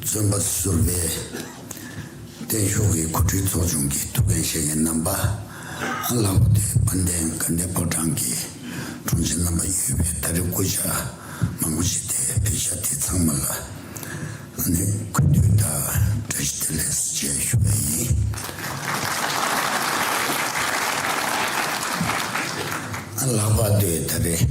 བརྩོན་པ་བཟུར་བས། བརྟན་གཤོག་གི་གོ་སྒྲིག་ཚོགས་ཆུང་གི་ཐུགས་འགན་བཞེས་མཁན་རྣམ་པ། ཨ་ལགས་བུ་སྟོན་དཔལ་ལྡན་དགའ་ལྡན་ཕོ་བྲང་གི་དྲུང་ཆེ་རྣམ་པ་གཡུལ་བས་ད་རེས་སྐུ་ཕྱྭ་མང་པོ་ཞིག་དེ་བས་ཤ་དེ་ཚང་མ་ལ་ནི་གུས་འདུད་དང་བཀྲ་ཤིས་བདེ་ལེགས་སུ་བཅས་ཞུ་བ་ཡིན། ཨ་ལགས་པ་སྟོད་ད་རེས།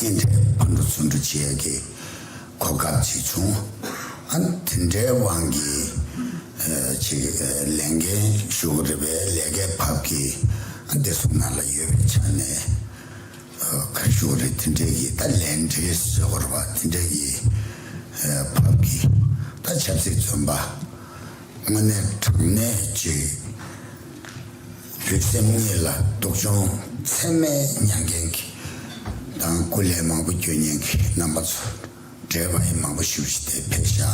ཉིན་དེར་ཨ་མདོ་བཙོན་གྲོལ་བྱེད་ཡ་གི་གོ་སྐབས་ཅིག་བྱུང། ཨ་དེ་འདྲའི་དབང་གིས་ཅིག་ལས་འགན་ཞུ་གི་རེད་པས་ལས་ཀའི་བབ་ཀྱིས་ཨ་དེ་སོང་ན་ལ་ཡོད་པའི་ཆ་ནས་ཁར་ཞུ་གི་རེད་དེ་འདྲའི་གི་ད་ལས་འབྲེལ་བྱེད་དགོས་པ་དེ་འདྲའི་གི་བབ་ཀྱིས་ད་ཆབ་སྲིད་བཙོན་པ་དངོས་གནས་དྲང་གནས་ཅིག་བོད་སེམས་གཉིས་ལ་སྡུག་སྦྱོང་ཚད་མེད་མྱངས་མཁན་གྱི་དང་སྐུ་ལས་མང་པོ་འགྱོད་མྱངས་གི་རྣམ་པ་ཚོ་འདྲེས་པ་ཡི་མང་པོ་བཞུགས་ཤི་སྟེ་ཕེབས་ཤག་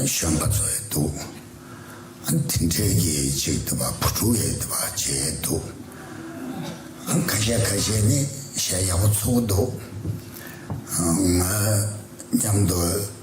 གཞོན་པ་ཚོ་ཡི་འདུག་དེ་འདྲས་ཀྱི་ཅིག་འདུག་བ་བུ་ཕྲུག་ཡི་འདུག་བ་བྱས་ཡི་འདུག་ཁ་ཤས་ཁ་ཤས་ནི་ཞལ་ཡག་པོ་ཚུགས་འདུག་ང་མཉམ་དུ།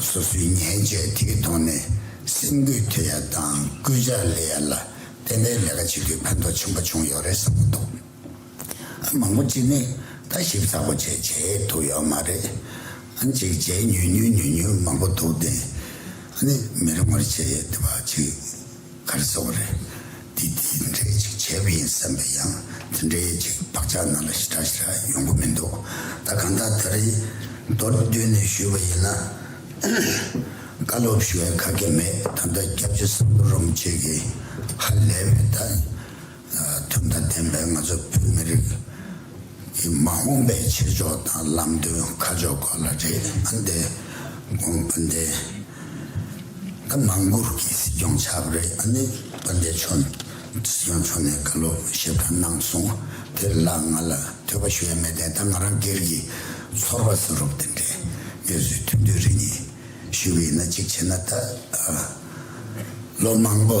སོ་སོའི་མཉེན་ཆས་དེའི་ཐོག་ནས་སེམས་འགུལ་ཐེབས་ཡ་དང་སྐུལ་ལྕག་སླེ་ཡ་ལ་བརྟེན་པའི་ལས་ཀ་བྱེད་རྒྱུའི་ཕན་ཐོགས་ཆེན་པོ་བྱུང་ཡོད་རེད་བསམ་གྱི་འདུག་ཨ་མང་པོ་ཅིག་ནི་ལྟ་ཞིབ་ཚ་པོ་བྱས་བྱས་ཐུབ་ཡོད་མ་རེད། གཅིག་བྱས་ཉུལ་ཉུལ་ཉུལ་ཉུལ་མང་པོ་འདུག་དེ་ནི་མི་རུང་བར་བྱས་ཡོད་བ་ཅིག་གར་བཟོ་བ་རེད། དེ་དེ་འདྲས་ཅིག་བྱས་པ་ཡིན་བསམ་པས་ཡང་དེ་འདྲས་ཅིག་བག་ཆགས་ནང་ལ་ཞི་དྲག་ཞི་དྲག་ཡོང་གི་མི་འདུག་ད་གང་ལྟར་ད་རེས་མདོར་བསྡུས་ནས་ཞུས་པ་ཡིན་ན། བཀའ་སློབ་ཞུ་བའི་ཁག་ཁྱེད་མེད་ད་ལྟ་སྐྱབས་རྗེ་བསམ་བློ་རུང་བཅས་ཀྱིས་ཧ་ལས་པའི་ད། དོན་དང་ལྡན་པའི་ང་ཚོ་བོད་མི་རིགས་ཀྱི་མ་འོངས་པའི་བྱེད་ཕྱོགས་དང་ལམ་སྟོན་ཁ་ཕྱོགས་སྐོར་ལ་རེད་ཨང། འདི་དགོངས་པ་འདི་ད་མང་པོར་གྱི་སྲིད་སྐྱོང་ཆགས་པ་རེད་ཨང། པ་འདི་ཆོ་སྲིད་སྐྱོང་ཆོ་ནས་ག་ལོ་ཞིབ་ཕྲ་གནང་སོང་དེ་ལ་ང་ལ་ཐོས་པ་ཞུ་ཡ་མེད་དེ་ད་ང་རང་སྒེར་གྱི་ཚོར་བ་ཟེར་རོགས་དེ་འདྲའི་ངས་བཟོས་ཐུབ་འདོད་རེ་གཉིས་ཞུ་གི་ཡིན་ན་གཅིག་བྱས་ན་ད་ལོ་མང་པོ།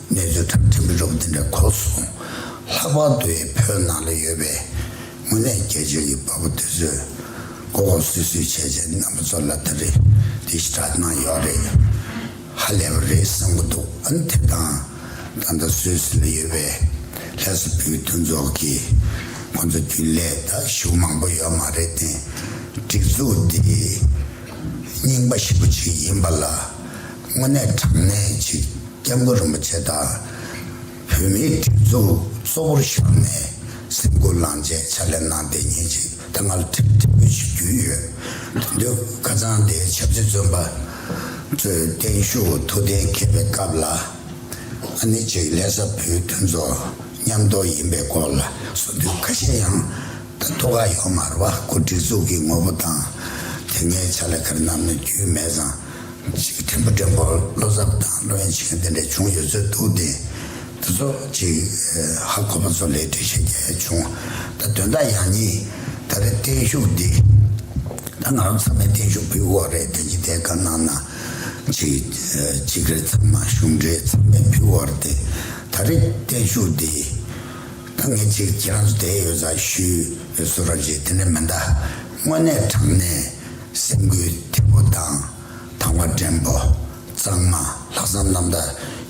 གནས་ཚུལ་ལྟར་དེ་མི་རབས་འདི་འདྲ་གོ་སོང་ལྷག་པར་དུ་ཡི་བོད་ནང་ལ་ཡོད་པའི་དངོས་གནས་རྒྱལ་གཅེས་ཀྱི་བ་བུ་དེ་ཚོས་མགོ་སྐོར་སུད་སུད་བྱས་བྱས་རྣམ་པ་ཚོ་ལ་ད་རེ་འདི་ཞེ་དྲག་གནང་ཡོད་རེད་ཧ་ལས་པ་རེད་བསམ་གྱི་འདུག་ཨ་དེ་དང་ད་ལྟ་སུད་སི་ལ་ཡོད་པའི་ལྷ་ས་བོད་མཐུན་ཚོགས་ཀྱི་ཁོང་ཚོ་རྒྱུན་ལས་ད་ཞུགས་མང་པོ་ཡོད་མ་རེད་དེ་སྒྲིག་འཛུགས་འདི་རྙིང་པ་ཞིག་པོ་ཅིག་ཡིན་པ་ལ། དངོས་གནས་དྲང་གནས་གཅིག་སྐྱབས་མགོན་རིན་པོ་ཆེ་དང་བོད་མིའི་སྒྲིག་འཛུགས་གཙོ་བོར་བཞག་ནས་སེམས་སྐུལ་ལངས་བྱས་ཕྱག་ལས་གནང་བདེ་ཉིན་གཅིག་ད་སྔ་ལ་ཁྲེལ་ཁྲེལ་པོ་ཞིག་རྒྱུ་ཡོད་དོན་དུ་ཁ་ཚང་དེའི་ཆབ་སྲིད་བཙོན་པ་ཚོས་བརྟན་བཞུགས་ཐུགས་གཏན་འཁེལ་བའི་སྐབས་ལ་ཨ་ནི་ཅིག་ལྷས་ས་བོད་མཐུན་ཚོགས་མཉམ་གཏོགས་ཡིན་པའི་སྐོར་ལ་གསུང་དུས་ཁ་ཤས་ཡང་ད་ཐུགས་ཁག་ཡོད་མ་རུ་བ་སྐུ་སྒྲིག་འཛུགས་ཀྱི་ངོ་བོ་དང་དེ་སྔའི་ཕྱག་ལས་ཁར་རྣམས་ནས་རྒྱུས་མེད་ཙང། ཞིག་གི་ཐེམ་བུ་སྒྲེང་བར་བློ་འཚབ་དང་བློ་གཡེང་བྱེད་མཁན་དེ་འདྲ་བྱུང་ཡོད་ཚོད་འདུག་དེ་ཚོ་གཅིག་ཧ་གོ་བ་ཚོ་ལས་འགྲེལ་བཤད་རྒྱ་ཡ་བྱུང་ད་དོན་དག་ཡག་ཉེས་ད་རེ་བརྟན་བཞུགས་འདི་ད་ང་རང་ཚང་མའི་བརྟན་བཞུགས་བུའི་འོག་རེད་དོན་གྱི་དེ་ག་གནང་ན་གཅིག་གཅིག་རེ་ཚང་མ་གཞུང་འབྲེལ་ཚང་མའི་བུའི་འོག་རེད་དེ་ད་རེ་བརྟན་བཞུགས་འདི་ད་ངས་གཅིག་ཁྱེད་རང་ཚོ་དེ་ཡོད་ཚ་ཞུས་ཡོད་ཚོད་ར་བཞེས་དེ་འདྲ་མིན་ད་དངོས་གནས་དྲང་གནས། སེམས་འགུལ་ཐེབས་པོ་དང་དང་བ་འདྲེན་པོ་གཙང་མ་ལྷག་བསམ་རྣམ་དག་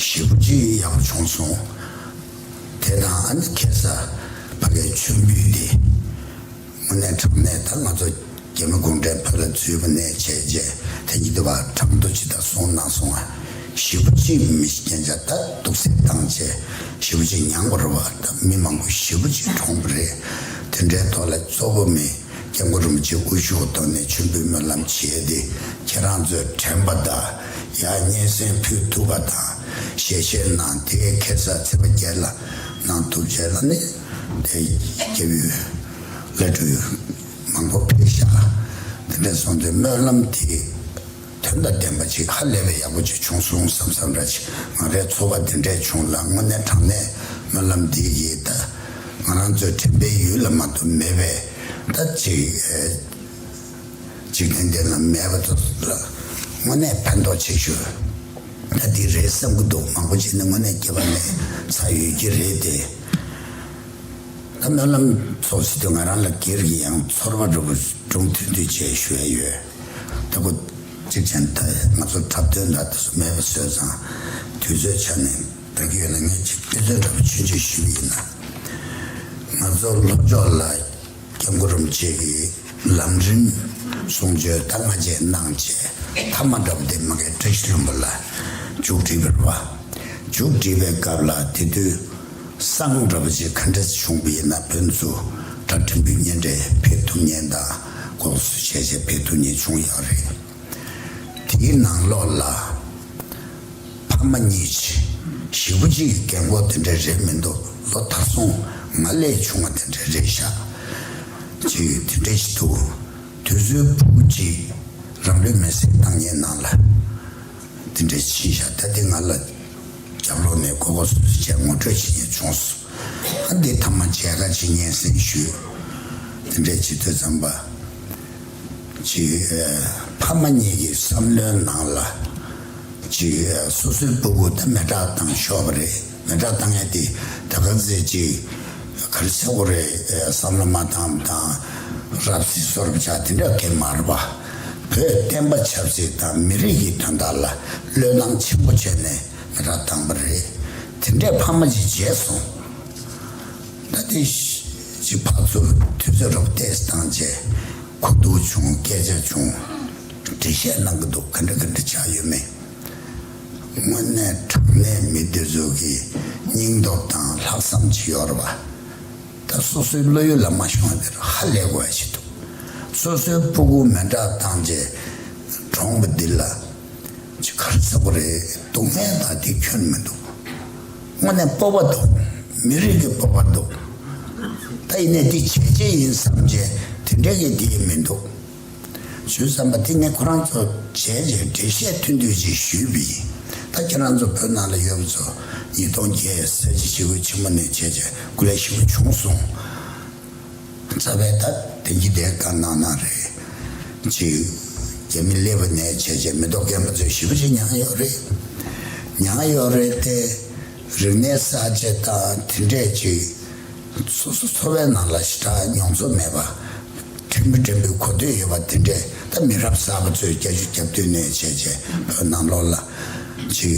ཞེ་བུ་ཅི་ཡོད་ཡག་པོ་བྱུང་སོང། དེ་དང་ཨ་ནི་ཁེ་ས་ཕ་གའི་མཆོད་འབུལ་དེ་དངོས་གནས་དྲང་གནས་ད་ང་ཚོ་རྒྱ་མི་གུང་ཁྲན་བོད་ལ་རྫུས་པོ་ནས་བྱས་རྗེས་དེ་ཉིད་དུ་བ་དྲང་དུ་ཇི་ལྟར་སོང་གནང་སོང་ཨ་ཞེ་བུ་ཅི་མི་ཤེས་རྐྱེན་ཆ་ད་དུག་སེལ་བཏང་ཆེ་ཞེ་བུ་ཅི་མྱང་པོ་རེད་བ་ད་མི་མང་པོ་ཞེ་བུ་ཅི་གྲོངས་པོ་རེད་དེ་འདྲའི་ཐོག་ལ་གཙོ་བོ་མི། སྐྱབས་མགོན་རིན་པོ་ཆེ་དབུ་བཞུགས་གདོད་ནས་མཆོད་འབུལ་སྨོན་ལམ་བྱས་ཏེ་ཁྱེད་རང་ཚོའི་དྲན་པ་དང་ཡ་སྙན་གསན་ཕུལ་ཐུབ་པ་དང་ཞལ་བཞེས་གནང་དེ་ཁེ་སར་ཚེ་པ་བརྒྱད་ལ་གནང་ཐུབ་བྱས་ན་ནི་དེ་སྐྱབས་ཡུལ་ལས་གྲུ་ཡུལ་མང་པོ་ཕེབས་ཤག་དེ་འདྲས་སོང་དུས་སྨོན་ལམ་དེ། དོན་དང་ལྡན་པ་ཅིག་ཧ་ལས་པའི་ཡག་པོ་ཅིག་བྱུང་གསུངས་བསམ་བསམ་ར་ཅིག་ང་རའི་ཚོར་བ་དེ་འདྲས་བྱུང་ལ་དངོས་གནས་དྲང་གནས་སྨོན་ལམ་འདི་ཡིས་ད་ང་རང་ཚོའི་དྲན་པའི་ཡུལ་ལ་མ་གཏོགས་མེད་པས་ད་ཅིག་འགྲན་ཟླའི་ལམ་མེད་པ་ཚོ་ལ་དངོས་གནས་ཕན་ཐོགས་ཆེ་ཞུ་ད་འདི་རེད་བསམ་གི་འདུག་མང་པོ་ཅིག་ནི་དངོས་གནས་སྐྱེ་བ་ནས་ཚ་ཡོད་ཀྱི་རེད་དེ། ད་སྨོན་ལམ་ཚོགས་ཚེ་དུས་ང་རང་ལ་སྒེར་གྱི་ཡང་ཚོར་བ་རུ་སྒྲུང་ཐུང་ཐུང་བྱས་ཞུ་ཡས་ཡོད། ལྟ་བུ། གཅིག་ཅན་ལྟ་ཡི་ང་ཚོར་འཁྲབ་སྟོན་འདྲ་དེ་ཚོ་མེད་པ་བཟོས་ཙང། དུས་ཚོད་ཆ་ནས་འགའ་ཁྱོད་ལ་ངས་ཆིག་སྟོན་དོན་འདྲ་པོ་ཆུན་ཆུན་ཞུ་གི་ཡིན། ང་ཚོ་ལྷོ་ཕྱོགས་ལ་སྐྱབས་མགོ་རུམ་བྱེད་ཀྱི་ལམ་རིམ་གསུང་ཆོས་ཟླ་ལྔ་རྗེས་གནང་ཆེས་མཐའ་མ་འདྲ་པོ་དེ་མ་གལ་བཀྲ་ཤིས་ལྷུན་པོ་ལ་མཇུག་བསྒྲིལ་བར་བ། མཇུག་བསྒྲིལ་བའི་སྐབས་ལ་དེ་དུས་བསང་འདྲ་པོ་ཆེ་ག་འདྲ་བྱུང་བ་ཡིན་ན་བོད་མཚུར་སྒྲ་འགྲིམ་བུའི་སྙན་འདྲེ་འཕེལ་ཐུབ་ཉེན་དང། ལྐོག་ཟོས་བྱས་བྱས་བེད་དུ་ནི་བྱུང་ཡག་རེད། དེའི་ནང་ལོགས་ལ། ཕ་མ་གཉིས། བཞི་པོ་གཅིག་གི་རྒན་གོག་དེ་འདྲའི་རེད་མི་འདུག་ལོ་ཐར་སོང་ང་ལས་ཆུང་བ་དེ་འདྲའི་རེད་ཤག་ཅེས་ཡོད་དེ་འདྲས་ཤིག་འདུག་དུས་ཚོད་ཕུག་པོ་གཅིག་རང་ལུས་མེར་སྲེག་བཏང་ཉེས་ནང་ལ་དེ་འདྲས་ཕྱིན་ཤག་ད་དེ་ང་ལ་རྒྱབ་ལོགས་ནས་ལྐོག་ལྐོག་ཟོས་ཟོས་བྱས་ངོ་སྤྲོད་བྱེད་ཉེས་བྱུང་སོང། ཨ་འདི་ཐ་མ་འཆལ་ཁ་བྱེད་སྙན་སེང་ཞུ། དེ་འདྲའི་བྱེད་ཚུལ་ཙམ་པ། གཅིག། ཕ་མ་གཉིས་ཀྱི་བསམ་བློའི་ནང་ལ། གཅིག། སོ་སོའི་སྤུ་གུ་དེ་མེ་སྐྲག་བཏང་ཤོག་པ་རེད། མེ་སྐྲག་བཏང་ཡས་དེ་ད་ག་ཟེ་གཅིག། ག་རེ་ཆག་གོ་རེད་བསམ་བློ་མ་བཏང་མ་བཏང། རབ་བརྩི་གསོ་རབ་ཆག་དེ་འདྲ་གེ་མ་རེད་པ། བོད་བསྟན་པ་ཆབ་སྲིད་དང་མི་རིགས་ཀྱི་དོན་དག་ལ་བློས་བཏང་ཆེན་པོ་བྱས་ནས། ང་རང་དང་པོ་རེད། དེ་འདྲའི་ཕ་མ་ཅིག་བརྗེད་སོང། ད་ལྟའི་ཤི་བ་ཚོ་དུས་ཚོད་རོབ་བལྟས་སྟངས་བཅས་གོ་འདུག་བྱུང་སྐད་ཆ་ཅུང་འདྲི་བཤད་གནང་གི་འདུག་ག་འདྲ་ག་འདྲ་ཆགས་ཡོད་མེད། དངོས་གནས་དྲང་གནས་མི་དེ་ཚོ་གི་སྙིང་སྟོབས་དང་ལྷག་བསམ་ཅི་ཡོད་རེད་བ། ད་སོ་སོའི་བློ་ཡུལ་ལ་མ་ཤོང་དེར་ཧ་ལས་དགོས་བ་ཞིག་འདུག་སོ་སོའི་སྤུ་སྒུག་མེ་འདྲ་བཏང་རྗེས་གྲོངས་པ་འདི་ལ། ཇི་གར་ཚ་པོ་རེད་འདུག་སྨན་དང་དེ་ཁྱོན་མི་འདུག་དངོས་གནས་སྤོབས་པ་འདུག་མི་རིགས་ཀྱི་སྤོབས་པ་འདུག་ད་ཡིན་ནས་འདི་བྱས་རྗེས་ཡིན་བསམ་རྗེས་དེ་འདྲའི་གི་དེ་མི་འདུག་ཞུས་བསམ་པ་དེ་ངས་ཁོ་རང་ཚོ་བྱས་རྗེས་འགྲེལ་བཤད་མཐུན་འདུས་ཅིག་ཞུས་པ་ཡིན་ད་ཁྱེད་རང་ཚོ་བོད་ནང་ལ་ཡོད་པ་ཚོ་ཉིས་སྟོང་བརྒྱད་ཟེར་གྱི་ཞི་རྒོལ་ཆེན་མོ་ནས་བྱས་རྗེས་སྐུ་ལས་ཞི་བ་བྱུང་སོང། རྩ་བའི་ད་དེང་གི་བརྡའི་བཀའ་གནང་ན་རེད། གཅིག། རྒྱ་མི་ལས་བུ་ནས་བྱས་བྱས་མི་རྡོག་རྒན་པ་ཚོས་ཞིབ་བཤེར་མྱངས་ཡོད་རེད། མྱངས་ཡོད་རེད་དེ། རིག་གནས་གསར་བརྗེ་དང་དེ་འདྲས་གཅིག། སོ་སོ་འཚོ་བའི་ནང་ལ་ཞི་དྲག་མྱོང་ཚོར་མེད་པ། འཐུས་མི་དྲན་པའི་གོ་ཐོས་ཡོད་པ་དེ་འདྲས་ད་མི་རབས་གསར་པ་ཚོས་རྒྱ་གཞུ་རྒྱབ་སྟོན་ནས་བྱས་བྱས་བོད་ནང་ལོག་ལ། གཅིག།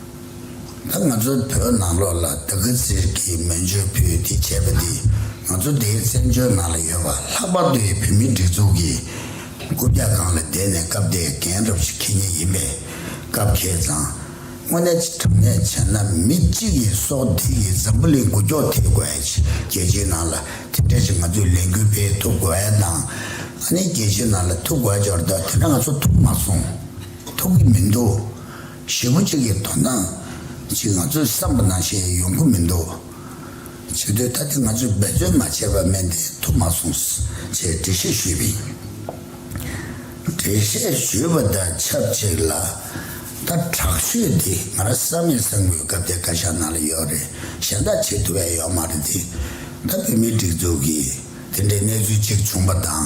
ད་ང་ཚོའི་བོད་ནང་ལོག་ལ་ད་གི་ཟིར་གྱི་མོན་ཆོས་ཕུད་དེ་བྱས་པ་འདི་ང་ཚོ་འདིའི་བཙན་བྱོལ་ནང་ལ་ཡོད་པ་ལྷག་པར་དུ་ཡི་བོད་མི་སྒྲིག་འཛུགས་ཀྱི་རྐུབ་བཀྱག་སྒང་ལ་བསྡད་ནས་སྐབས་དེའི་རྒན་རབས་ཤིག་ཁྱེད་ཉིད་ཡིན་པས་སྐབས་ཁྱེད་ཚང་དངོས་གནས་ཅི་དྲང་གནས་བྱས་ན་མི་གཅིག་གི་སྲོག་སྡིག་གི་འཛམ་བུ་ལི་འགུལ་སྐྱོག་ཐེབས་དགོས་ཨེ་ཆི་རྒྱལ་སྤྱིའི་ནང་ལ་དེ་འདྲས་ཅིག་ང་ཚོས་ལས་འགུལ་སྤེལ་ཐུབ་དགོས་ཨེ་དང་ཨ་ནི་རྒྱལ་སྤྱིའི་ནང་ལ་ཐུག་དགོས་ཨེ་འབྱོར་བདག་དེ་འདྲ་ང་ཚོ་ཐུག་མ་སོང་ཐུག་གི་མི་འདུག། བཞི་མོ་གཅིག་གི་དོ་སྣང་གཅིག་ང་ཚོས་བསམ་པ་ན་བྱས་ཡོང་གི་མི་འདུག་བྱེད་འདོད་ད་ལྟ་ང་ཚོས་འབད་བརྩོན་མ་བྱས་པར་མེད་འདི་ཐུབ་མ་སོང་ཅེས་འགྲེལ་བཤད་ཞུས་པས། འགྲེལ་བཤད་ཞུས་པ་དང་ཆབས་ཅིག་ལ་ད་དྲག་ཤོས་འདི་ང་རང་བསམ་མེད་བསམ་དགོས་སྐབས་དེ་བཀའ་ཤག་ནང་ལ་ཡོད་རེད་གཞན་དག་བྱེད་ཐུབ་ཡ་ཡོད་མ་རེད་དེ་ད་བོད་མིའི་སྒྲིག་འཛུགས་ཀྱིས་དེ་འདྲའི་གནས་ཚུལ་གཅིག་བྱུང་པ་དང།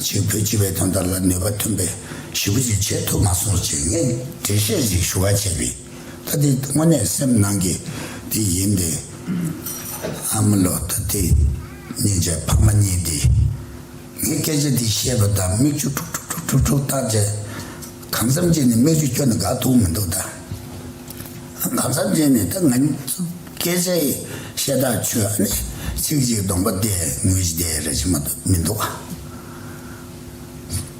ཅིག་བོད་སྤྱི་བའི་དོན་དག་ལ་ནུས་པ་ཐོན་པའི་ཞིབ་པོ་ཅིག་བྱས་ཐུབ་མ་སོང་ཅེས་ངས་འགྲེལ་བཤད་ཅིག་ཞུ་བར་བྱས་པས། ད་དེ་དངོས་གནས་སེམས་ནང་གི་དེ་ཡིན་ཏེ། ཨ་མ་ལོ་ད་དེ་གཉིས་ཀྱི་ཕ་མ་གཉིས་ཏེ། ངས་སྐད་ཆ་འདི་བཤད་པ་དང་མིག་ཆུ་ཁྲུག་ཁྲུག་ཁྲུག་ཁྲུག་ཁྲུག་བཏགས་རྗེས། གང་བསམ་བརྗེད་ནས་སྨྲས་ཆུ་ཁྱོད་ནི་དགའ་ཐུག་མི་འདུག་ད། གང་བསམ་བརྗེད་ནས་ད་ང་སྐད་ཆ་ཡི་ཤེས་ཐག་ཆོད་ཨ་ནི་ཚིག་གཅིག་གདོང་པ་བལྟས་ངུས་བྱས་དེ་རེད་ཅི་མ་འདུག་མི་འདུག་ཨ།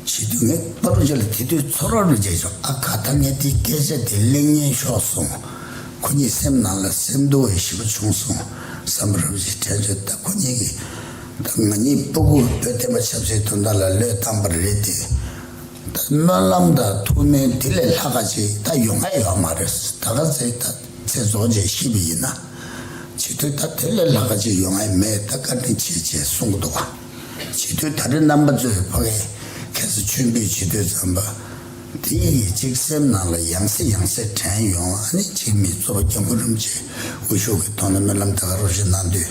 བྱས་དུས་ངས་པཱ་ལུ་ཇཱ་ལ་དེ་དུས་ཚོགས་ར་རུ་མཇལ་བྱུང་ཨ་ཁ་ད་ངས་དེའི་སྐད་ཆ་དེ་གླེང་ཉན་ཤོག་གསུང། ཁོ་གཉིས་སེམས་ནང་ལ་སེམས་སྡུག་བའི་ཞི་བ་བྱུང་སོང་བསམ་པར་རབ་བྱས་དྲན་ཚོད་ད་ཁོ་གཉིས་ཀྱིས་ད་ང་གཉིས་པཱ་གུ་བོད་བསྟན་པ་ཆབ་སྲིད་དོན་དག་ལ་བློས་བཏང་པ་རེད་དེ། ད་སྨོན་ལམ་དང་ཐུགས་སྨོན་དེ་ལས་ལྷག་ག་ཅིག་ད་ཡོང་ག་ཡོད་མ་རེད་ད་ག་ཚེ་ད་ཚེ་རྫོགས་རྗེས་ཤི་བ་ཡིན་ན་བྱིས་དུས་ད་དེ་ལས་ལྷག་ག་ཅིག་ཡོང་ཨེ་མེད་ད་བཀའ་དྲིན་ཆེ་ཆེ་གསུང་གི་འདུག་བྱིས་དུས་ད་རེ་རྣམ་པ་གཙོས་ཕ་གས་ཁྱེད་ཚོ་ཆོས་འདུས་བྱིས་དུས་ཙམ་པ་དེ་གཉིས་ཀྱིས་གཅིག་སེམས་ནང་ལ་ཡང་སེ་ཡང་སེ་དྲན་ཡོང་ཨ་ནི་ཕྱིར་མིའི་གཙོ་པ་སྐྱབས་མགོན་རིན་པོ་ཆེ་དབུ་བཞུགས་ཀྱི་ཐོག་ནས་སྨོན་ལམ་ད་ག་རོགས་ཞེས་གནང་དུས།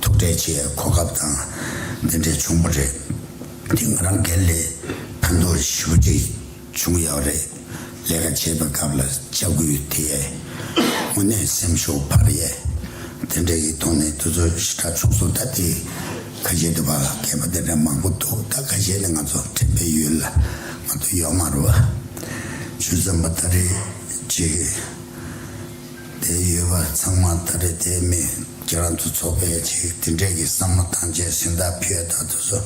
ཐུག་འཕྲད་བྱེད་ཡའི་གོ་སྐབས་དང་འདི་འདྲའི་བྱུང་བ་རེད། འདི་ང་རང་སྒེར་ལས་ཕན་ཐོགས་བཞི་བ་ཅིག་བྱུང་ཡག་རེད། ལས་ཀ་བྱེད་པའི་སྐབས་ལ་ལྕག་སྐུལ་དེ་ཡས། དངོས་གནས་སེམས་ཤུགས་འཕར་ཡས། དེ་འདྲ་ཡིག་ཐོག་ནས་དུས་ཚོད་ཞི་དྲག་བྱུང་སོང་ད་ལྟའི་ཁ་ཤས་དུ་བ་སྐད་པ་དེ་འདྲ་མང་པོ་འདུག་ད་ཁ་ཤས་ནི་ང་ཚོ་དྲན་པའི་ཡུལ་ལ་ང་དུ་ཡོད་མ་རུ་བ། ཇུས་བཟང་པོ་ད་རེས་བྱེད། དེ་ཡོད་པ་ཚང་མ་ད་རེས་དེ་མེད་ཁྱེད་རང་ཚོ་ཚོགས་པའི་ཆེད་དེ་འདྲས་ཀྱི་བསམ་བློ་གཏང་ཆེད་སེམས་ཐག་ཕེད་ད་དུ་ཚོ་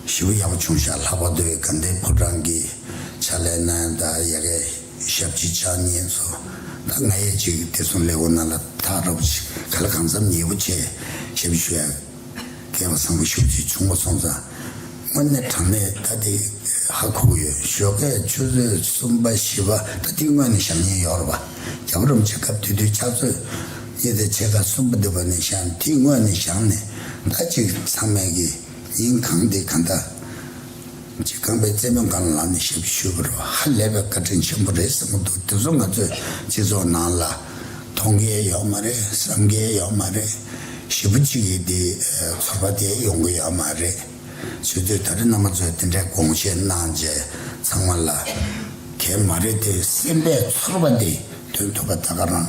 ཞུ་ཡག་པོ་བྱུང་ཤག་ལྷག་པ་དུ་བའི་དགའ་ལྡན་ཕོ་བྲང་གི་ཕྱག་ལས་གནང་ཡང་ད་ཡ་གའི་ཞབས་ཕྱི་ཕྱག་གཉིས་ཚོ་ད་ང་ཡས་ཅིག་དེ་ཚོ་ལས་འོ་ན་ལ་ཐག་རོབ་ཅིག་ག་ལ་གང་འཚམ་ཡས་པོ་བྱས་ཞབས་ཞུ་ཡག། རྒྱལ་བ་བཟང་པོ་ཤུགས་ཀྱིས་བྱུང་བ་སོང་ཙང་དངོས་གནས་གྲངས་མེད་ད་ལྟའི་ཧ་ཁུག་ཡོད་ཞོ་ཁས་ཆུ་ཚོད་གསུམ་པ་བཞི་པ་ད་ལྟའི་དངོས་གནས་ཞག་གཉིས་ཡོར་བ་རྒྱ་བོད་རོམ་བྱེད་སྐབས་དུས་དུས་ཕྱག་ཚོད་གཉིས་ཚེ་ཕྱེད་ཀ་གསུམ་པ་འདི་བ་ནས་ཞག་འདི་དངོས་གནས་ཞག་ནི་ད་ཅིག་ཚང་མས་གི་ཡིན་གང་འདི་གང་ད། གཅིག་ཁང་པའི་རྩེད་མོ་འགའ་ལ་ལངས་ནས་ཞབས་ཕྱི་ཞུ་བར་ཧ་ལས་པའི་བཀའ་དྲིན་ཆེན་པོ་རེད་བསམ་གྱི་འདུག་དེ་ཚོ་ང་ཚོའི་སྤྱི་ཚོགས་ནང་ལ་མཐོང་གི་ཡོད་མ་རེད་བསམ་གི་ཡོད་མ་རེད། ཞེ་བུ་གཅིག་གིས་དེ་ཚོར་བ་དེ་ཡོང་གི་ཡོད་མ་རེད། ཚུལ་དུ་ད་རེས་ནང་པ་ཚོས་དེ་འདྲའི་དགོངས་བཞེས་གནང་རྗེས་ཚང་མ་ལ། གལ་མ་རེད་དེ་སེམས་པའི་ཚོར་བ་དེ་འདོན་ཐུབ་པ་ད་ག་རང།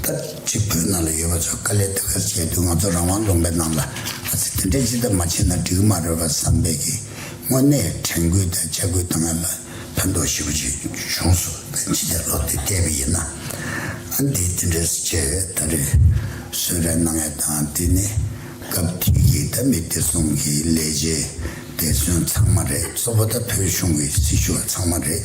ད་ཅི་བོད་ནང་ལ་ཡོད་པ་ཚོས་དཀའ་ལས་འདི་གར་བྱས་དུས་ང་ཚོ་རང་དབང་ལུང་པའི་ནང་ལ་ཨ་ཙི་དེ་འདྲས་ཅི་ལྟར་མ་བྱས་ན་འགྲིག་གི་མ་རེད་པ་བསམ་པས་ཀྱིས་དངོས་གནས་དྲན་སྐུལ་དང་ལྕག་སྐུལ་གཏང་ཡ་ལ་ཕན་ཐོགས་ཞེ་པོ་ཅིག་བྱུང་སོ་ད་ཅི་བདེར་ལོབས་ཏེ་བལྟས་པ་ཡིན་ན་ཨ་འདི་དེ་འདྲས་སུ་བྱས་བས་ད་རེ་སོད་རེ་གནང་ཡ་དང་དེ་ནི་སྐབས་དེ་ཀྱི་ད་མི་བདེ་སྲུང་གི་ལས་བྱེད་བདེ་སྲུང་ཚང་མ་རེད་གཙོ་བོ་ད་བོད་གཞུང་གི་སྲི་ཞུ་བ་ཚང་མ་རེད།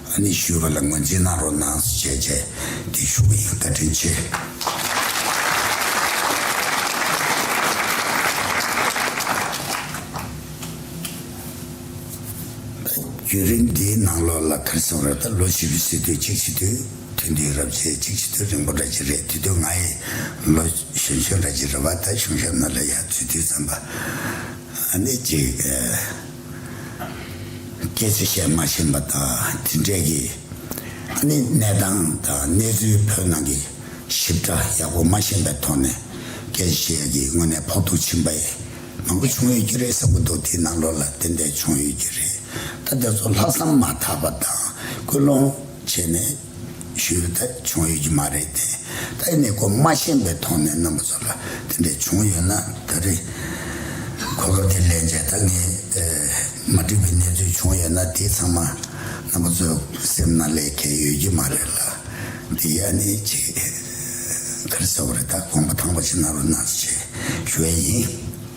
ཨ་ནེ་ཞུས་པ་ལ་ངོས་འཛིན་གནང་རོགས་གནང་ཟེར་བྱས་རྗེས་འདི་ཞུ་གི་ཡིན་བཀའ་དྲིན་ཆེ། བརྒྱུད་རིམ་འདིའི་ནང་ལོགས་ལ་ཁེར་སེམས་ར་ལྟར་ལོ་བཞི་བའི་སྲིད་དོན་གཅིག་ཕྱི་དོན་ཐུན་ཏེའི་རབས་ཆད་གཅིག་ཕྱི་དོན་རིང་པོ་འདྲ་གཅིག་རེད་དུས་སྟོན་ང་ཡི་ལོ་གཞོན་གཞོན་འདྲ་གཅིག་རེད་བ་ད་གཞུང་ཞབས་ན་ལ་ཡ་ཚུལ་དུས་བརྩམས་པ་ཨ་ནེ་གཅིག། སྐད་ཆ་བཤད་མ་ཤེས་པ་དག་འདི་འདྲས་ཀྱིས་ནི་གནས་སྟངས་དང་གནས་ཚུལ་བོད་ནང་གི་ཞིབ་ཕྲ་ཡག་པོ་མ་ཤེས་པའི་ཐོག་ནས་སྐད་ཆ་བཤད་ཡ་གི་དངོས་གནས་ཕོག་ཐུག་ཕྱིན་པ་མང་པོ་བྱུང་ཡོད་ཀྱི་རེད་ཟེར་པོ་འདུག་དེ་ནང་ལོགས་ལ་དེ་འད་བྱུང་ཡོད་ཀྱི་རེད་ད་དེ་ཚོ་ལྷག་བསམ་མ་ཐག་པ་དང་སྐུལ་སློང་བྱས་ནས། ཞུས་ལ། ད་བྱུང་ཡོད་ཀྱི་མ་རེད་དེ། ད་ཡིན་ནའི་གོ་མ་ཤེས་པའི་ཐོག་ནས་རྣམ་པ་ཚོ་ལ་དེ་འདྲས་བྱུང་ཡོད་ན་ད་རེས། གོ་སྐབས་དེ་ལེན་བྱས་ད་ངས་མ་འགྲིག་པའི་གནས་ཚུལ་བྱུང་ཡོད་ན་དེ་ཚང་མ་རྣམ་པ་ཚོའི་སེམས་ན་ལས་ཁེལ་ཡོད་ཀྱི་མ་རེད་ལ། དེ་ཡ་ནི་ཆེས་ག་རེ་ཟེར་བ་རེད་ད་དགོངས་པ་དྭངས་པ་ཞིག་གནང་རོགས་གནང་ཞེས་ཞུ་ཡ་ཡིན།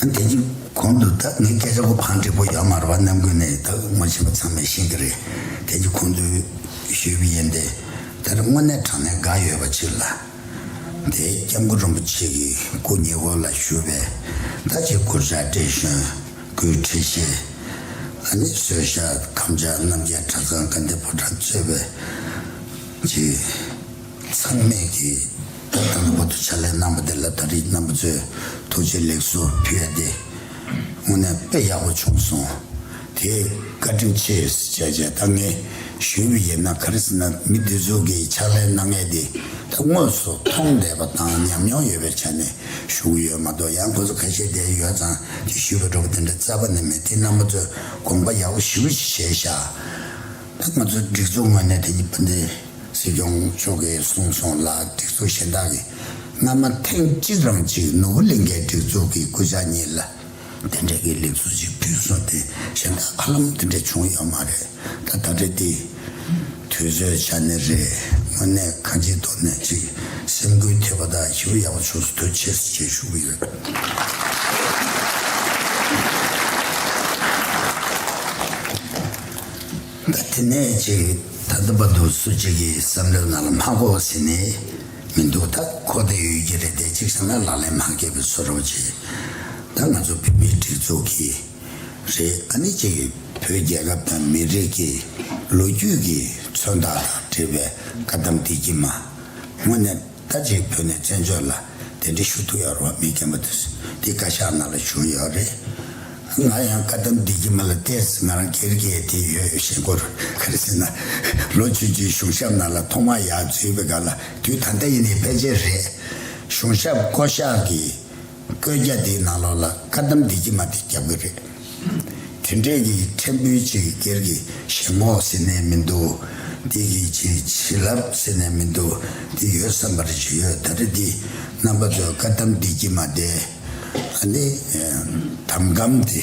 དེ་རྗེས་གོང་དུ་བདག་ངའི་སྐད་ཆ་གོ་འཕང་བགྲེས་པོ་ཡར་མར་བ་རྣམ་ཀུན་ནས་དག་ངོ་བྱེད་པ་ཚང་མས་ཤེས་ཀྱི་རེད། དེ་རྗེས་ཁོང་ཚོས་ཞུས་པ་ཡིན་ཏེ། དེ་ལ་དངོས་གནས་དྲང་གནས་དགའ་ཡོད་པ་ཅིག་ལ། དེས་སྐྱབས་མགོན་རིན་པོ་ཆེ་གི་སྐུ་ཉེ་བོ་ལ་ཞུས་པས། ད་ཅིའི་སྐོར་བཞག་བཀྲས་གཞོན་སྐུའི་ཁྲི་བཤད། ཨ་ནེ་བཟོད་ཤ་ཁམས་ཆགས་རྣམ་རྒྱལ་གྲྭ་ཚང་དགའ་ལྡན་ཕོ་བྲང་གཙོས་པས། ཅི། ཚང་མས་ཀྱིས་ད་ལྟ་ངོ་ཐོག་ཕྱག་ལས་གནང་བ་དེ་ལ་ད་རེས་རྣམ་པ་ཚོས་ཐུགས་རྗེ་ལེགས་སོ་ཕུལ་ཡ་དེ་དངོས་གནས་དཔེ་ཡག་པོ་བྱུང་སོང། དེ་བཀའ་དྲིན་ཆེ་བྱས་རྗེས་ད་ངས་ཞུ་བ་ཡིན་ན་ག་རེ་ཟེར་ན་མི་འདི་ཚོ་གི་ཕྱག་ལས་གནང་མཁན་དེ་ད་དངོས་སུ་མཐོང་བསྡད་པ་དང་ཉམས་མྱོང་ཡོད་པའི་ཆ་ནས་ཞུ་གི་ཡོད་མ་གཏོགས་ཡང་ཁོ་ཚོ་ཁ་ཤས་བསྡད་ཡོད་ཙང་གི་ཞུས་པ་འགྲོ་བ་དེ་འདྲ་རྩ་བ་ནས་མེད་དེ་རྣམ་པ་ཚོས་དགོངས་པ་ཡག་པོ་ཞུ་བ་ཞིག་བྱས་ཤག། ང་ཚོའི་སྒྲིག་འཛུགས་ངོས་ནས་དེ་ཉིད་སྤུན་ཟླའི་སྲིད་སྐྱོང་མཆོག་གིས་གསུངས་སོང་ལ་སྒྲིག་འཛུགས་གཞན་དག་གིས་སྔ་མ་ཐེངས་གཅིག་རང་གཅིག་ནོར་བུ་གླིང་གའི་སྒྲིག་འཛུགས་ཀྱི་སྐུ་ཕྱྭ་གཉིས་ལ་དེ་འབྲེལ་གྱི་ལེགས་ཚུལ་ཞིག་བསྐྲུན་སོང་དུས་གཞན་དག་ཧ་ལམ་དེ་འདྲ་བྱུང་ཡོད་མ་རེད་ད་ད་རེ་འདི་དུས་ཚོད་ཆ་ནས་རེད་དངོས་གནས་ཁ་ལྗིད་དོག་ནས་ཅིག་སེམས་འགུལ་ཐེབས་པ་དང་ཞི་བ་ཡག་པོ་བྱུང་སོང་དུས་ཆེས་བརྩེ་བཞིན་ཞུ་གི་ཡོད། ལ། དེ་ནས་ཅིག་ད་ལྟ་བར་དུ་སུ་གཅིག་གིས་བསམ་བློའི་ནང་ལ་མ་གོ་ཟིན་ནི་མི་འདུག་ད་གོ་དེ་ཡོད་ཀྱི་རེད་དེ་གཅིག་བྱས་ན་ལག་ལེན་མ་འགེལ་བའི་ཚོར་བ་ཆེ། ད་ང་ཚོ་བོད་མིའི་སྒྲིག་འཛུགས་ཀྱིས་རེད་ཨ་ནི་ཅིག་བོད་རྒྱལ་ཁབ་དང་མི་རིགས་ཀྱི་ལོ་རྒྱུས་ཀྱི་མཚོན་རྟགས་དང་འབྲེལ་བའི་བཀའ་གདམས་འདི་ཀྱི་མ་དངོས་གནས་ད་ཅིག་བོད་ནས་བཙན་བྱོལ་ལ་དེ་འདྲའི་ཞུ་གཏུག་ཡག་རོགས་མི་རྒན་པོ་དེས་དེ་བཀའ་ཤག་ནང་ལ་ཞུ་ཡག་རེད། ང་ཡང་བཀའ་གདམས་བསྡིགས་ཀྱི་མ་ལ་བལྟས་ཚེ་ང་རང་གེར་གེར་དེ་ཡོད་ཡོད་ཞེན་སྐོར་ག་རེ་ཟེར་ན། ལོ་བཅུ་བཅུའི་གཞུང་ཞབས་ནང་ལ་ཐོག་མར་ཡག་བརྫུས་པའི་སྐབས་ལ་དུས་ད་ལྟ་ཡིན་ནའི་ཕལ་ཆེར་རེད། གཞུང་ཞབས་བསྐོ་གཞག་གི་བཀོད་རྒྱ་དེའི་ནང་ལོགས་ལ་བཀའ་གདམས་འདི་ཀྱི་མ་དེ་རྒྱབ་གི་རེད། དེ་འདྲས་ཀྱི་ཕྲན་བུ་ཅིག་སྒེར་གྱི་ཞེན་ཁོག་ཟེར་ནས་མི་འདུག་འདི་གི་ཅིག་བྱིན་རླབས་ཟེར་ནས་མི་འདུག་འདི་ཡོད་བསམ་པར་བྱས་ཡོད་ད་རེ་འདི་རྣམ་པ་ཚོས་བཀའ་གདམས་འདི་ཀྱི་མ་དེ། ཨ་ནི། དམ་གམ་འདི།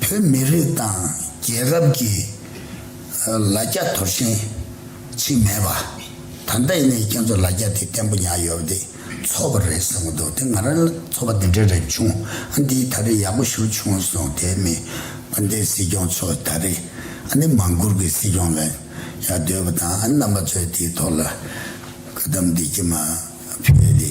བོད་མི་རིགས་དང་རྒྱལ་ཁབ་ཀྱི་ལ་རྒྱ་དོར་ཞེན་ཆེ་མེད་པ། ད་ལྟ་ཡིན་ནའི་ཁྱེད་ཚོ་ལ་རྒྱ་དེ་བརྟན་པོ་ཉག་ཡོད་པ་དེ་ཚོགས་པ་རེད་ཟེར་གི་འདུག་དེ་ང་རང་ལ་ཚོགས་པ་དེ་འདྲ་རེ་བྱུང་ཨ་འདིའི་ད་རེ་ཡག་པོ་ཞུ་བྱུང་སོང་དེ་མིན་ཨ་འདིའི་སྲིད་སྐྱོང་ཚོ་ད་རེ་ཨ་ནི་མང་བཀུར་གྱི་སྲིད་སྐྱོང་ལ་ཡག་འདོད་པ་དང་ཨ་རྣམ་པ་ཚོས་དེའི་ཐོག་ལ་བཀའ་གདམས་འདི་ཀྱི་མ་ཕེབས་དེ།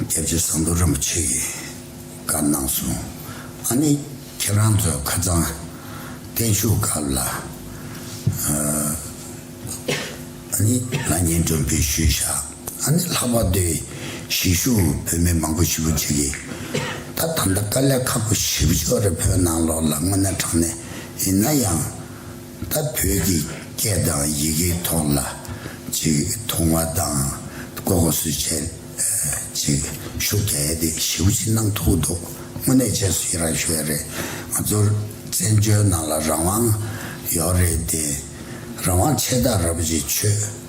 རྒྱལ་རྗེ་ཟངས་མདོག་རིན་པོ་ཆེ་གིས་བཀའ་གནང་སོང། ཨ་ནི་ཁྱེད་རང་ཚོ་ཁ་རྩང་བརྟན་བཞུགས་སྐབས་ལ། ཨ་ནི་ང་ཉེ་འགྲོ་འབུལ་ཞུས་བཞག་ཨ་ནི་ལྷག་པར་དུ་གཞིས་བཞུགས་བོད་མི་མང་པོ་ཞིག་པོ་ཅིག་གིས་ད་ད་ལྟ་དཀའ་ལས་ཁག་པོ་ཞིབ་ཕྱོགས་རེ་བོད་ནང་ལོགས་ལ་དངོས་གནས་དྲངས་ནས་ཡིན་ན་ཡང། ད་བོད་ཀྱི་སྐད་དང་ཡི་གེའི་ཐོག་ལ་ཅིག་མཐོང་བ་དང་ཀོ་ཀོ་སུ་བྱེད་ཅིག་ཤུགས་རྒྱ་ཡེ་དེ་ཞེའུ་ཅི་གནང་ཐུག་འདུག་དངོས་གནས་བྱས་སུ་ཡི་རང་ཞུ་བས་རེད་ང་ཚོར་བཙན་བྱོལ་ནང་ལ་རང་དབང་ཡོག་རེད་དེ་རང་དབང་ཆེ་ད་ར་པོ་ཆེ་ཆོས།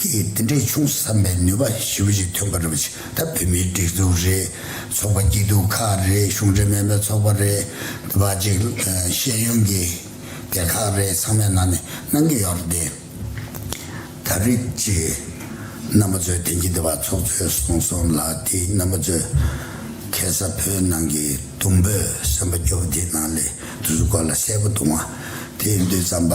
ཀྱིས་འདི་འདྲའི་ཆུང་ཟབ་མའི་ནུས་པ་ཞིབ་པོ་ཅིག་ཐོན་པ་རེད་པ་ཆི་ད་བོད་མིའི་སྒྲིག་འཛུགས་རེད་ཚོགས་པ་སྐྱིད་སྡུག་ཁག་རེད་གཞུང་འབྲེལ་མིན་པའི་ཚོགས་པ་རེད་དེ་བ་ཅིག་ཤེས་ཡོན་གྱི་སྡེ་ཁག་རེད་ཚང་མའི་ནང་ནས་གནང་གི་ཡོད་རེད་དེ། ད་རིགས་ཅིག་རྣམ་པ་ཚོས་དེང་གི་དེ་བ་ཚོགས་གཙོས་གསུངས་སོང་ལ་དེ་རྣམ་པ་ཚོས་ཁེ་ས་བོད་ནང་གི་དུམ་བུ་སེམས་པ་སྐྱོ་བོ་དེ་ནང་ལས་དུ་ཟུ་སྐོར་ལ་གསལ་པོ་དུང་བ་དེ་འདུས་ཙམ་པ།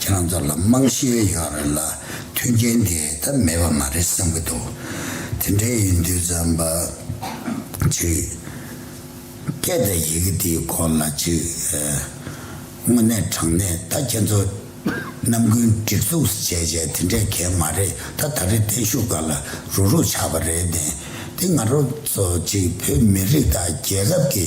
ཁྱེད་རང་ཚོ་ལ་དམངས་གཞས་ཡོད་རེད་ལ་མཐུན་རྐྱེན་དེ་ད་མེད་པ་མ་རེད་བསམ་གྱི་འདུག་དེ་འདྲའི་ཡིན་དུས་བརྩམས་པ་གཅིག་སྐད་དང་ཡི་གེ་དེའི་སྐོར་ལ་གཅིག་དངོས་གནས་དྲང་གནས་ད་ཁྱེད་ཚོ་རྣམ་ཀུན་སྒྲིག་འཛུགས་སུ་བྱས་བྱས་དེ་འདྲས་གལ་མ་རེད་ད་ད་རེས་བརྟན་བཞུགས་ག་ལ་རུག་རུག་ཆགས་པ་རེད་དེ་ང་རོ་ཚོ་གཅིག་བོད་མི་རིགས་དང་རྒྱལ་ཁབ་ཀྱི་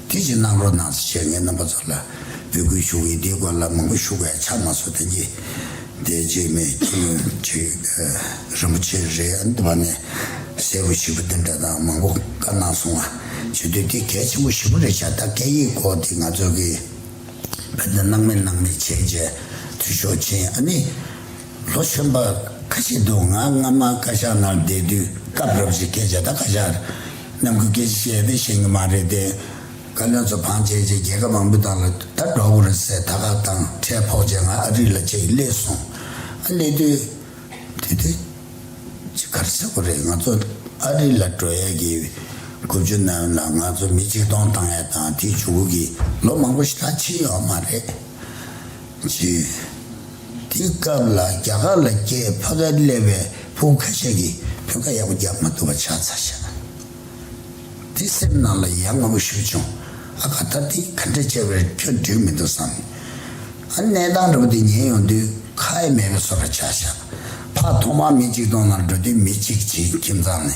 དེ་བཞིན་གནམ་རོག་ནང་སྲིད་བྱས་ཉེས་རྣམ་པ་ཚོར་ལ་འབོད་སྐུལ་ཞུ་གི་འདི་སྐོར་ལ་མང་པོ་ཞུ་ག་ཆ་མ་སོ་དེ་གྱིས་དེ་རྗེས་མེ་ཁྱི་ལོན་ཆི་རིན་པོ་ཆེ་རེད་འདུག་བ་ནས་གསལ་པོ་ཞིབ་པོ་འདི་འདྲ་དང་མང་པོ་བཀའ་གནང་སོང་བ་བྱེད་དུས་དེ་གལ་ཆེན་པོ་ཞིབ་པོ་རེད་ཤ་སྟག་སྐད་ཡིག་སྐོར་དེ་ང་ཚོ་གི་བོད་དོན་སྣང་མེད་སྣང་མེད་བྱས་རྗེས་འཐུས་ཤོར་ཕྱིན་ཨ་ནི་ལོ་གཞོན་པ་ཁ་ཤས་འདུག་ང་སྔ་མ་བཀའ་ཤག་ནང་བསྡད་དུས་སྐབས་རབ་བཞི་སྐད་ཆ་དང་བཀའ་ཤག་ནམ་གུས་སྐད་ཆ་བཤད་ཡོད་པས་ཤེས་ཀྱི་མ་རེད་དེ། བཀའ་བློན་ཚོ་བང་ཆེན་ཆེ་རྒྱལ་ཁབ་མང་པོ་དག་ལ་ད་འགྲོ་གོ་རེད་ཟེར་ད་ཁག་དང་ཁྲལ་ཕོག་བྱས་ང་ཨ་རི་ལ་ཆེད་བསླེས་སོང། ཨ་བསླེས་དུས། དེ་དེ། ཅི་གར་ཆག་གོ་རེད་ང་ཚོ་ཨ་རི་ལ་འགྲོ་ཡས་ཀྱི་དགུ་བཅུ་ནམ་ལ་ང་ཚོ་མི་ཆིག་སྟོང་བཏང་ཡས་དང་དེ་བྱུང་གི་ལོ་མང་པོ་ཞིག་ལ་ཕྱིན་ཡོད་མ་རེད། བརྒྱུད། དེའི་སྐབས་ལ་རྒྱ་གར་ལ་སྐྱེས་ཕ་ག་ལེ་བའི་བུ་ག་ཤ་གིས་བོད་ཁ་ཡག་པོ་རྒྱག་མ་ཐུབ་པ་ཆགས་ཚར་ཤག་དེ་སེམས་ནང་ལ་ཡ་ང་བོ་ཞུ་བྱུང་ཨ་ག་ད་དེ་ག་འདྲ་བྱས་པར་ཁྱོད་འགྲིག་མི་འདུག་བསམ་ནས་ཨ་གནས་སྟངས་འདྲ་པོ་དེ་ཉན་ཡོང་དུས་ཁ་ཨེ་མེད་པའི་སོ་ར་ཆགས་ཤག་ཕ་ཐོག་མར་མི་གཅིག་སྟོང་ནང་འགྲོ་དུས་མི་གཅིག་བྱིན་ཁྱིམ་ཚང་ནས།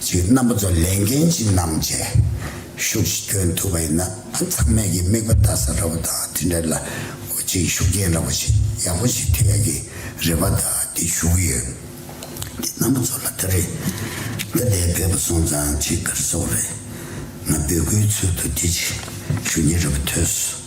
ཅིག་རྣམ་པ་ཚོ་ལས་འགན་ཅི་གནང་བྱས་ཤུགས་ཤིག་སྐྱོན་ཐུབ་པ་ཡིན་ན་ཚང་མས་ཀྱི་མིག་པ་ལྟ་ས་ར་བ་དང་དེ་འདྲ་ལ་ཅིག་ཤུགས་རྐྱེན་ར་བ་ཞིག་ཡག་པོ་ཞིག་ཐེབས་ཡ་གི་རེད་པ་ད་དེ་ཞུ་གི་ཡོད་དེ་རྣམ་པ་ཚོ་ལ་ད་རེ་ད་ལྟའི་བོད་པ་སོང་ཙང་ཅིག་སྐར་སོག་རེད་ང་འབོད་སྐུལ་ཚུལ་དུ་དེ་ཅིག་ཞུ་གི་ར་བ་ཐོས།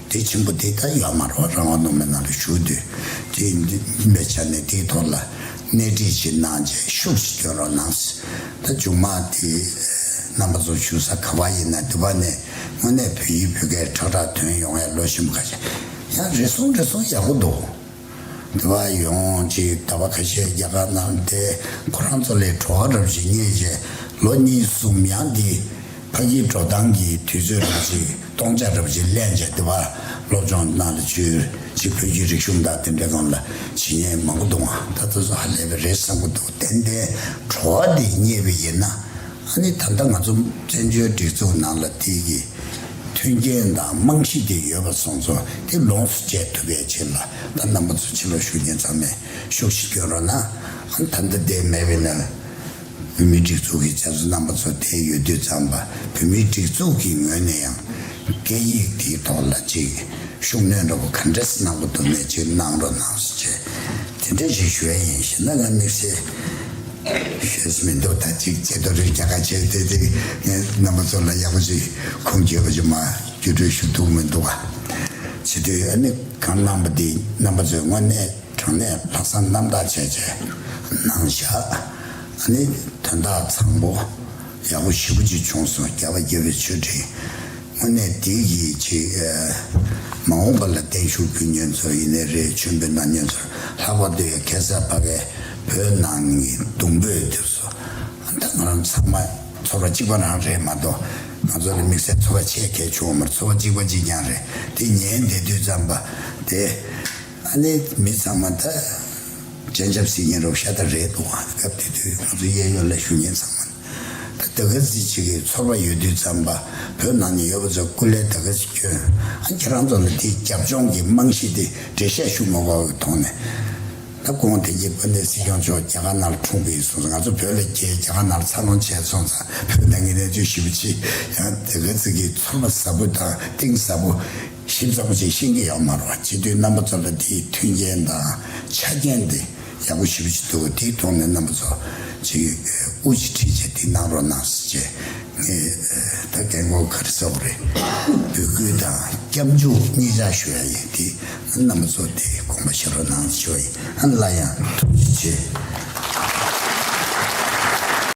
དེ་ཆེན་པོ་དེ་ད་ཡར་མར་བ་རང་བ་ནོར་མེད་ནང་དུ་ཞུགས་དུས་དེ་མིན་པའི་ཆ་ནས་དེའི་ཐོག་ལ་སྣེ་ཁྲིད་ཅིག་གནང་རྗེས་ཤུགས་ཀྱིས་སྐྱོན་རོགས་གནང། ད་མཇུག་མ་དེ་རྣམ་པ་ཚོ་ཞུགས་ས་ག་བ་ཡིན་ན་འདི་བ་ནས་དངོས་གནས་བོད་ཡིག་བོད་སྐད་ཁྲག་ཁྲག་དོན་ཡོང་ཡ་ལོ་ཞིམ་ག་ཡ་རེད་སོང་རེད་སོང་ཡག་པོ་འདུག། འདི་བ་ཡོང་ཅིག་ད་བ་ཁ་ཤས་རྒྱ་གར་ནང་བསྡད་ཁོ་རང་ཚོ་ལས་བྲོ་བ་རབ་བཞིན་རྙེད་རྗེས་ལོ་གཉིས་གསུམ་ཡང་འདི་ཕ་གིའི་བྲོ་སྟངས་ཀྱི་དུས་ཚོད་རེད་ཅིག་སྟོང་ཆ་རབ་བཞིན་གླན་རྗེས་འདི་བ་སློབ་སྦྱོང་གནང་ལ་ཅུས་ཅིག་བོད་བརྒྱུད་རིག་གཞུང་དང་དེ་འབྲེལ་གང་ལ་བྱེད་ཉེས་མང་པོ་འདུག་ང་ད་ལྟ་སུ་ཧ་ལས་པའི་རེད་བསམ་གི་འདུག་ཏན་ཏན་བྲོ་བ་འདི་རྙེད་པའི་ཡིན་ན་ཨ་ནི་ད་ལྟ་ང་ཚོ་བཙན་བྱོལ་སྒྲིག་འཛུགས་ནང་ལ་དེའི་གི་མཐུན་རྐྱེན་དང་རྨང་གཞི་དེ་ཡོད་པ་སོང་ཚོ་དེ་ལོངས་སུ་སྤྱད་ཐུབ་པའི་ཕྱིར་ལ་ད་རྣམ་པ་ཚོ་ཕྱི་ལོག་ཤུགས་རྐྱེན་ཚང་མས་ཤུགས་ཤིག་སྐྱོན་རོགས་གནང། ད་འདི་ལྟའི་མེད་པས་ན། བོད་མིའི་སྒྲིག་འཛུགས་ཀྱི་བྱ་གཟུ་རྣམ་པ་ཚོ་དེ་ཡོད་དུས་ཙམ་ལ་བོད་མིའི་སྒྲིག་འཛུགས་ཀྱི་ངོས་ནས་ཡང་སྐད་ཡིག་དེའི་ཐོག་ལ་ཅིག་ཤུགས་སྣོན་འགྲོ་པ་ག་འདྲས་སུ་གནང་དགོས་འདུག་ནས་ཅིག་གནང་རོགས་གནང་སུ་བཅས་དེ་འདྲས་ཞིག་ཞུ་ཡ་ཡིན་ཞེ་ན་ང་དམིགས་བསལ་ཤེས་སུ་མི་འདུག་ད་ཅིག་ཅེས་རྡོ་རིང་རྒྱག་ཁ་བྱས་ཏེ་དེ་ངས་རྣམ་པ་ཚོ་ལ་ཡག་པོ་ཞིག་ཁུངས་སྐྱེལ་བ་ཞིག་མ་རྒྱུ་སྤྲོད་ཞུ་ཐུབ་མི་འདུག་ག་བྱེད་འདོད་ཡོད་ནི་གང་གནང་པ་དེ་རྣམ་པ་ཚོས་དངོས་གནས་དྲང་གནས་ལྷག་བསམ་རྣམ་དག་བྱས་བྱས་གནང་བཞག་ཨ་ནི་དོན་དག་ཚང་པོ་ཡག་པོ་ཞིབ་པོ་ཅིག་བྱུང་སོང་རྒྱ་བ་རྒྱལ་བའི་མཆོད་སྤྲིན། དངོས་གནས་བདེ་སྐྱིད་ཅིག། མ་འོངས་པ་ལ་བརྟན་བཞུགས་རྒྱུ་ཉེན་ཚོར་ཡེ་ནས་རེད་ཆོས་འབེལ་ནང་ཉེན་ཚོར་ལྷག་པར་དུ་ཡང་གེ་སར་བྷ་གའི་བོད་ནང་གི་གདུང་འབོད་དེ་ཚོ་ད་ང་རང་ཚང་མ་ཚོར་བ་གཅིག་པ་རང་རེད་མ་གཏོགས་ང་ཚོ་ལ་དམིགས་བསལ་ཚོར་བ་ཆེ་གལ་ཆུང་བ་མ་རེད་ཚོར་བ་གཅིག་པ་གཅིག་རྐྱང་རེད་དེ་ཉན་བདེ་དུས་ཙམ་པ་དེ་ཨ་ནེ་མི་ཚང་མ་ད་སྤྱན་ཆབ་སྲིད་ཀྱིན་རོགས་ཤ་སྟག་རེད་འདུག་སྐབས་དེ་དུས་ང་ཚོ་གཡས་གཡོན་ལ་བཞུགས་ཉེན་ཚང་མ། ཟླ་ག་ཟིག་ཅིག་གི་ཚོར་བ་ཡོད་དུས་ཙམ་པ་བོད་ནང་ནས་ཡོད་པ་ཚོ་སྐུ་ལས་ཟླ་ག་ཟིག་ཁྱོད་ཁྱེད་རང་ཚོ་ལ་དེའི་རྒྱབ་ལྗོངས་ཀྱི་རྨང་གཞི་དེ་འགྲེལ་བཤད་ཞུ་མ་དགོས་པ་མཐོང་ནས། ད་དགོངས་དེང་གི་དཔོན་ལྡན་སྲིད་སྐྱོང་མཆོག་རྒྱ་གར་ནར་འཁྲུངས་པའི་སོང་ཚེ་ང་ཚོ་བོད་ལ་རྒྱལ་རྒྱ་གར་ནར་འཚར་ལོངས་བྱས་སོང་ཙང་བོད་ནང་གི་གནས་ཚུལ་ཞིབ་པོ་ཅི་ཡང་ཟླ་ག་ཟིག་གི་ཚོར་བ་ཟབ་པོ་དང་གཏིང་ཟབ་པོ་ཞིབ་ཚགས་པོ་ཅིག་ཤེས་ཀྱི་ཡོད་མ་རོགས་སྤྱི་འཐུས་རྣམ་པ་ཚོ་ལ་དེའི་མཐུན་རྐྱེན་དང་ཆ་རྐྱེན་དེ། ཡག་པོ་ཞུ་བཞིན་འདུག་དེའི་ཐོག་ནས་རྣམ་པ་ཚོ་ཅིག་དབུ་འབྱེད་ཁྲིད་ཆེད་འདི་གནང་རོགས་གནང་ཞེས་ངས་ད་གལ་འགོ་ཁར་གསལ་བོ་རེད་འབོད་སྐུལ་དང་སྐྱབས་འཇུག་གཉིས་ཆ་ཞུ་ཡ་ཡིན་དེ་རྣམ་པ་ཚོ་དེ་དགོངས་པ་བཞེས་རོགས་གནང་ཞོ་ཡིན་སླ་ཡང་ཐུགས་རྗེ་ཆེ།